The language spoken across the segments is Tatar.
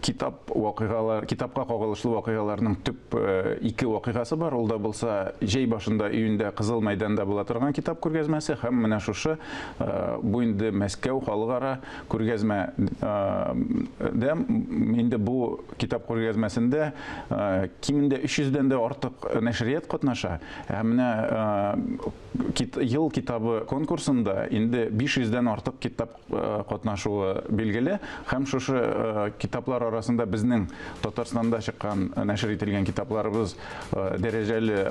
китап вакыйгалар, китапка кагылышлы вакыйгаларның төп э, ике вакыйгасы бар. Ул да булса җәй башында июньдә Кызыл мәйданда була торган китап күргәзмәсе һәм менә шушы э, бу инде Мәскәү халыкара күргәзмә э, дә инде бу китап күргәзмәсендә кимендә 300 дән дә артык нәшрият катнаша. Һәм менә ел китабы конкурсында инде 500 дән артык китап Э, катнашуы билгеле һәм шушы э, китаплар арасында безнең Татарстанда чыккан э, нәшер ителгән китапларыбыз дәрәҗәле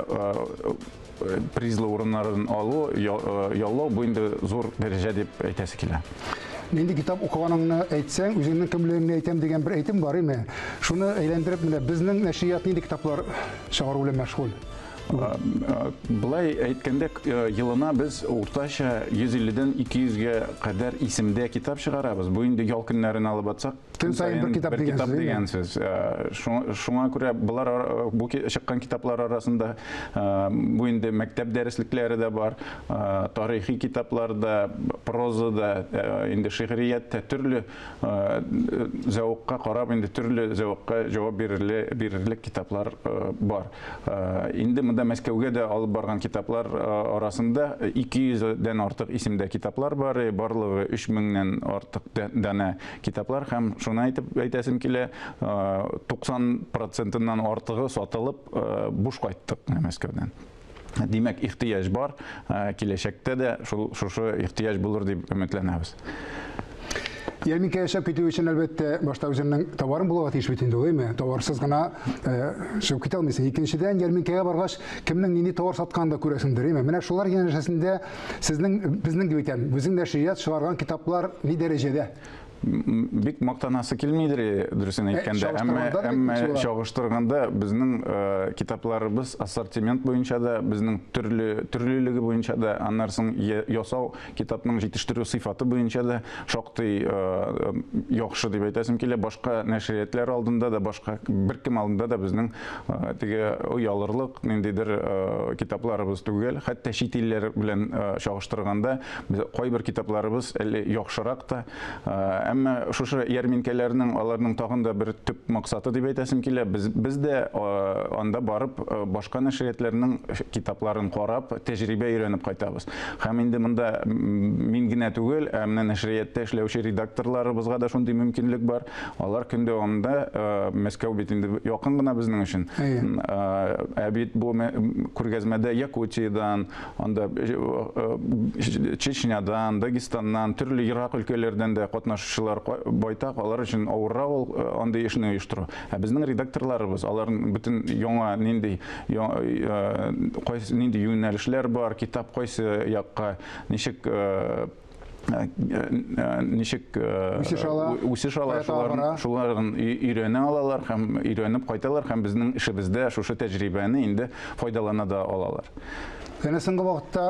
призлы урыннарын алу яллау бу инде зур дәрәҗә дип әйтәсе килә нинди китап укыганыңны әйтсәң үзеңнең кемлегеңне әйтәм дигән бер әйтем бар име шуны әйләндереп менә безнең нәшрият нинди китаплар чыгару белән мәшгуль Былай әйткәндә, елына без уртача 150 дән 200 гә кадәр исемдә китап чыгарабыз. Бу инде ял көннәрен алып атсак, көн саен бер китап дигән сүз. Шуңа күрә болар бу чыккан китаплар арасында бу инде мәктәп дәреслекләре дә бар, тарихи китаплар да, проза да, инде шигърият тә, төрле зәвыкка карап инде төрле зәвыкка җавап бирерлек китаплар бар. Инде монда Мәскәүгә дә алып барган китаплар арасында 200 дән артык исемдә китаплар бар, барлыгы 3000 нән артык данә китаплар һәм шуны әйтеп әйтәсем килә, 90 процентыннан артыгы сатылып буш кайттык Мәскәүдән. Димәк, ихтыяҗ бар, киләчәктә дә шул шушы ихтыяҗ булыр дип өметләнәбез. Ярминкә яшәп китү өчен, әлбәттә, башта үзеңнең товарың булуга тиеш бит инде, гыйме? Товарсыз гына чыгып китә алмыйсың. Икенчедән, ярминкәгә баргач, кемнең нинди товар сатканын да күрәсеңдер, гыйме? Менә шулар янәшәсендә сезнең, безнең дип әйтәм, үзең нәшрият чыгарган китаплар ни дәрәҗәдә? Бик мактанасы килмидер, дөресен э, әйткәндә, әмма әмма чагыштырганда безнең э, китапларыбыз ассортимент буенча да, безнең төрле төрлелеге буенча да, аннан соң ясау китапның җитештерү сыйфаты буенча да шактый э, яхшы дип әйтәсем килә. Башка нәшриятләр алдында да, башка беркем алдында да безнең теге оялырлык ниндидер китапларыбыз түгел. Хәтта чит илләр белән чагыштырганда Без кайбер китапларыбыз әле яхшырак та, әмма шушы ярминкәләрнең аларның тагын да бер төп максаты дип әйтәсем килә, без, без дә анда барып башка нәшриятләрнең китапларын карап, тәҗрибә өйрәнеп кайтабыз. Һәм инде монда мин генә түгел, ә менә нәшриятта эшләүче редакторларыбызга да шундый мөмкинлек бар. Алар көн дәвамында, Мәскәү бит инде якын гына безнең өчен. Ә бит бу күргәзмәдә Якутиядән, Анда Чечнядан, Дагестаннан, төрле ерак өлкәләрдән дә катнашучылар байтак, алар өчен авыррак ул андый эшне оештыру. Ә безнең редакторларыбыз, аларның бөтен яңа нинди кайсы нинди юнәлешләр бар, китап кайсы якка, ничек Э, э, ничек э, үсеш ала, үсеш ала шуларын, шуларын өйрәнә алалар һәм өйрәнеп кайталар һәм безнең эшебездә шушы тәҗрибәне инде файдалана да алалар. Әнә соңгы вакытта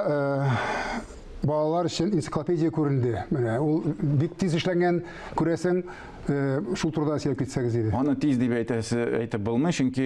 балалар өчен энциклопедия күренде. Менә ул бик тиз эшләнгән, күрәсең, Э, шул турыда сөйләп китсәгез иде. Аны тиз дип әйтәсе әйтеп булмый, чөнки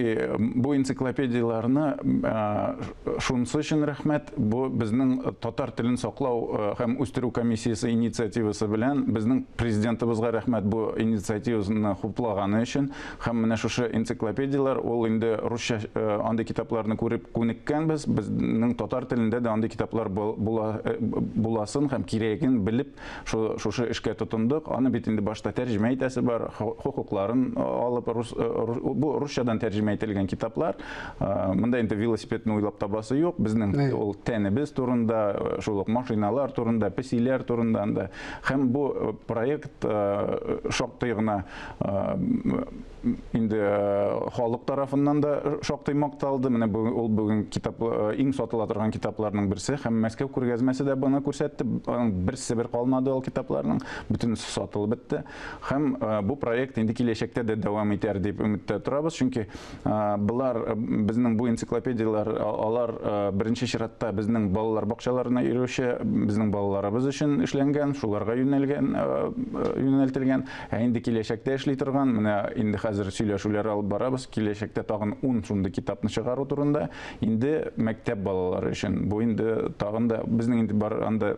бу энциклопедияләрне э, шунысы өчен рәхмәт, бу безнең татар телен саклау э, һәм үстерү комиссиясе инициативасы белән безнең президентыбызга рәхмәт бу инициативаны хуплаганы өчен һәм менә шушы энциклопедияләр ул инде русча андый китапларны күреп күнеккәнбез, безнең татар телендә дә андый китаплар буласын һәм кирәген белеп Шушы эшкә тотындык. Аны бит инде башта тәрҗемә итәсе бар, хокукларын алып, бу русчадан тәрҗемә ителгән китаплар. Монда инде велосипедны уйлап табасы юк. Безнең ул тәнебез турында, шул ук машиналар турында, песиләр турында анда. Һәм бу проект шактый гына инде э, халык тарафыннан да шактый макталды. Менә ул бүген китап э, иң сатыла торган китапларның берсе һәм Мәскәү күргәзмәсе дә баны күрсәтте. Берсе бер калмады ул китапларның, бөтенесе сатылып бетте. Һәм э, бу проект инде киләчәктә дә дәвам итәр дип өметтә торабыз, чөнки болар безнең бу энциклопедияләр алар беренче чиратта безнең балалар бакчаларына йөрүче, безнең балаларыбыз өчен эшләнгән, шуларга юнәлгән, юнәлтелгән. Ә инде киләчәктә эшли торган, менә инде хәзер сөйләшүләр алып барабыз, киләчәктә тагын ун шундый китапны чыгару турында, инде мәктәп балалары өчен. Бу инде тагын да безнең инде бар анда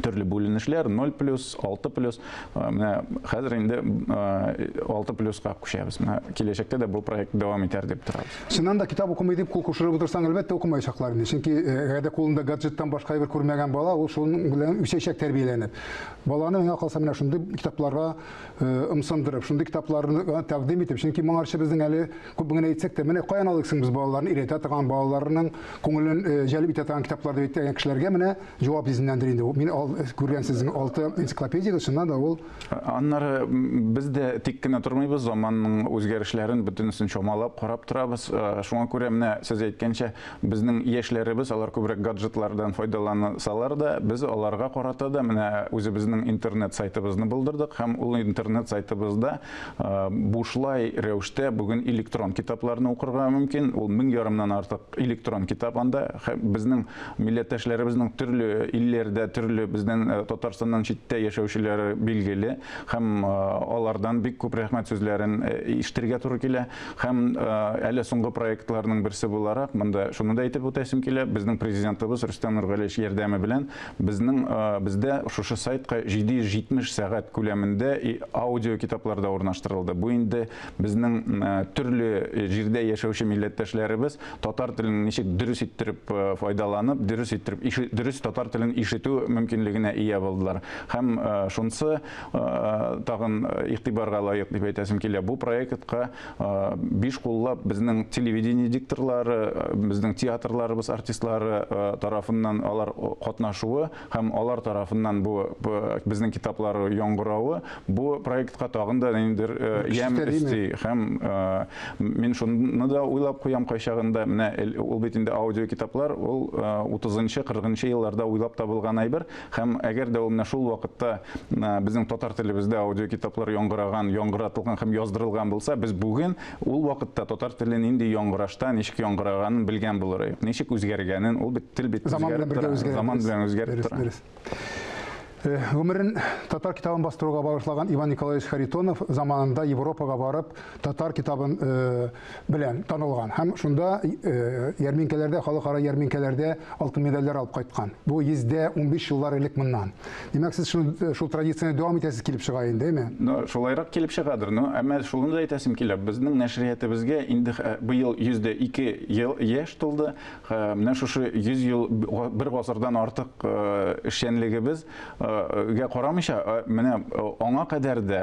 төрле бүленешләр 0 плюс 6 плюс э, менә хәзер инде 6 э, плюска күчәбез менә киләчәктә дә бу проект дәвам итәр дип торабыз чыннан да китап укымый дип кул кушырып утырсаң әлбәттә укымаячаклар инде чөнки э, әгәр дә кулында гаджеттан башка әйбер күрмәгән бала ул шуның белән үсәчәк тәрбияләнеп Баланы миңа калса менә шундый китапларга ымсындырып, шундый китапларны тәкъдим итеп, чөнки моңарчы безнең әле күп генә әйтсәк тә, менә каян алыйк соң без балаларны өйрәтә торган, балаларның күңелен җәлеп итә торган китаплар дип әйткән кешеләргә менә җавап изеннәндер инде. Мин күргән сезнең алты энциклопедиягез, чыннан да ул. Аннары без дә тик кенә тормыйбыз, заманның үзгәрешләрен бөтенесен чамалап, карап торабыз. Шуңа күрә менә сез әйткәнчә, Безнең яшьләребез, алар күбрәк гаджетлардан файдалансалар да, без аларга карата да менә үзебезнең интернет сайтыбызны булдырдык һәм ул интернет сайтыбызда бушлай рәвештә бүген электрон китапларны укырга мөмкин. Ул мең ярымнан артык электрон китап анда. Безнең милләттәшләребезнең төрле илләрдә, төрле безнең Татарстаннан читтә яшәүчеләре билгеле һәм алардан бик күп рәхмәт сүзләрен ишетергә туры килә. Һәм әле соңгы проектларның берсе буларак, монда шуны да әйтеп үтәсем килә, безнең Президентыбыз Рөстәм Нургалиевич ярдәме белән безнең бездә шушы сайтка 770 сәгать күләмендә аудиокитаплар да урнаштырылды. Бу инде безнең төрле җирдә яшәүче милләттәшләребез татар телен ничек дөрес иттереп файдаланып, дөрес иттереп, дөрес татар телен ишетү мөмкинлегенә ия булдылар. Һәм шунсы тагын игътибарга лаек дип әйтәсем килә. Бу проектка биш куллап безнең телевидение дикторлары, безнең театрларыбыз артистлары тарафыннан алар катнашуы һәм алар тарафыннан бу безнең китаплар яңгыравы бу проектка тагын да ниндидер ямь өсти. Һәм мин шуны да уйлап куям кайчагында, менә ул бит инде аудиокитаплар, ул 30 нчы, 40 нчы елларда уйлап табылган әйбер. Һәм әгәр дә ул менә шул вакытта безнең татар телебездә аудиокитаплар яңгыраган, яңгыратылган һәм яздырылган булса, без бүген ул вакытта татар теле нинди яңгырашта, ничек яңгыраганын белгән булыр идек. Ничек үзгәргәнен, ул бит тел бит үзгәреп тора. Заман белән үзгәреп тора. Э, гомерен татар китабын бастыруга багышлаган Иван Николаевич Харитонов заманында Европага барып, татар китабын э, белән танылган һәм шунда ярминкәләрдә, халыкара ярминкәләрдә алтын медальләр алып кайткан. Бу 115 еллар элек моннан. Димәк, сез шул, шул традицияне дәвам итәсез килеп чыга инде, әйме? Ну, шулайрак килеп чыгадыр. Ну, әмма шуны да әйтәсем килә, безнең нәшриятебезгә инде быел 102 ел яшь тулды. Менә шушы 100 ел, бер гасырдан артык эшчәнлегебез гә карамыйча, менә аңа кадәр дә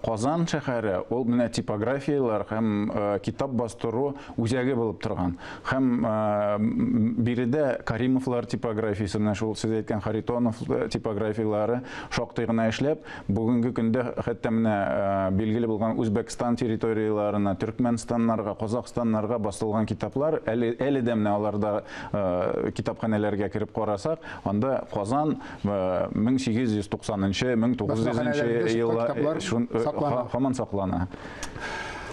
Казан шәһәре ул менә типографияләр һәм китап бастыру үзәге булып торган. Һәм биредә Каримовлар типографиясе, менә шул сез әйткән Харитонов типографияләре шактый гына эшләп, бүгенге көндә хәтта менә билгеле булган Үзбәкстан территорияләренә, Төркмәнстаннарга, Казахстаннарга басылган китаплар әле әле дә менә аларда китапханәләргә кереп карасак, анда Казан 1890 нчы 1900 нчы еллар һаман саклана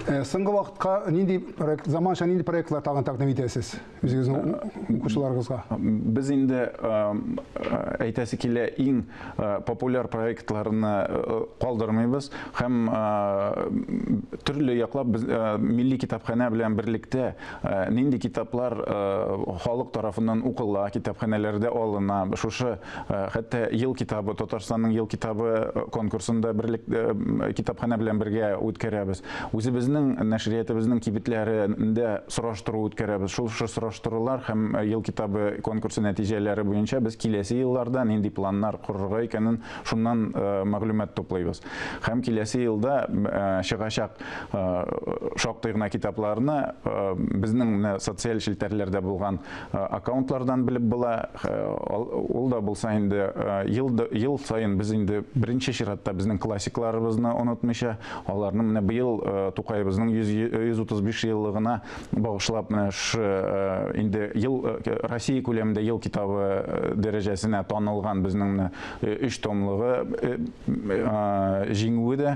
соңгы вакытка нинди проект заманча нинди проектлар тагын тәкъдим итәсез үзегезнең укучыларыгызга без инде әйтәсе килә иң популяр проектларны калдырмыйбыз һәм төрле яклап без милли китапханә белән берлектә Нинди китаплар халык тарафыннан укыла, китапханәләрдә алына? Шушы хәтта ел китабы, Татарстанның ел китабы конкурсын да берлек китапханә белән бергә үткәрәбез. Үзебезнең нәшриятыбызның кибетләрендә сораштыру үткәрәбез. Шул сораштырулар һәм ел китабы конкурсы нәтиҗәләре буенча без киләсе елларда нинди планнар корырга икәнен шуннан мәгълүмат туплыйбыз. Һәм киләсе елда чыгачак шактый гына китапларны безнең менә социаль челтәрләрдә булган аккаунтлардан белеп була. Ул да булса инде ел саен без инде беренче чиратта безнең классикларыбызны онытмыйча, аларны менә быел Тукаебызның 135 еллыгына багышлап менә шу инде ел Россия күләмендә ел китабы дәрәҗәсенә танылган безнең менә өч томлыгы Җиңүе дә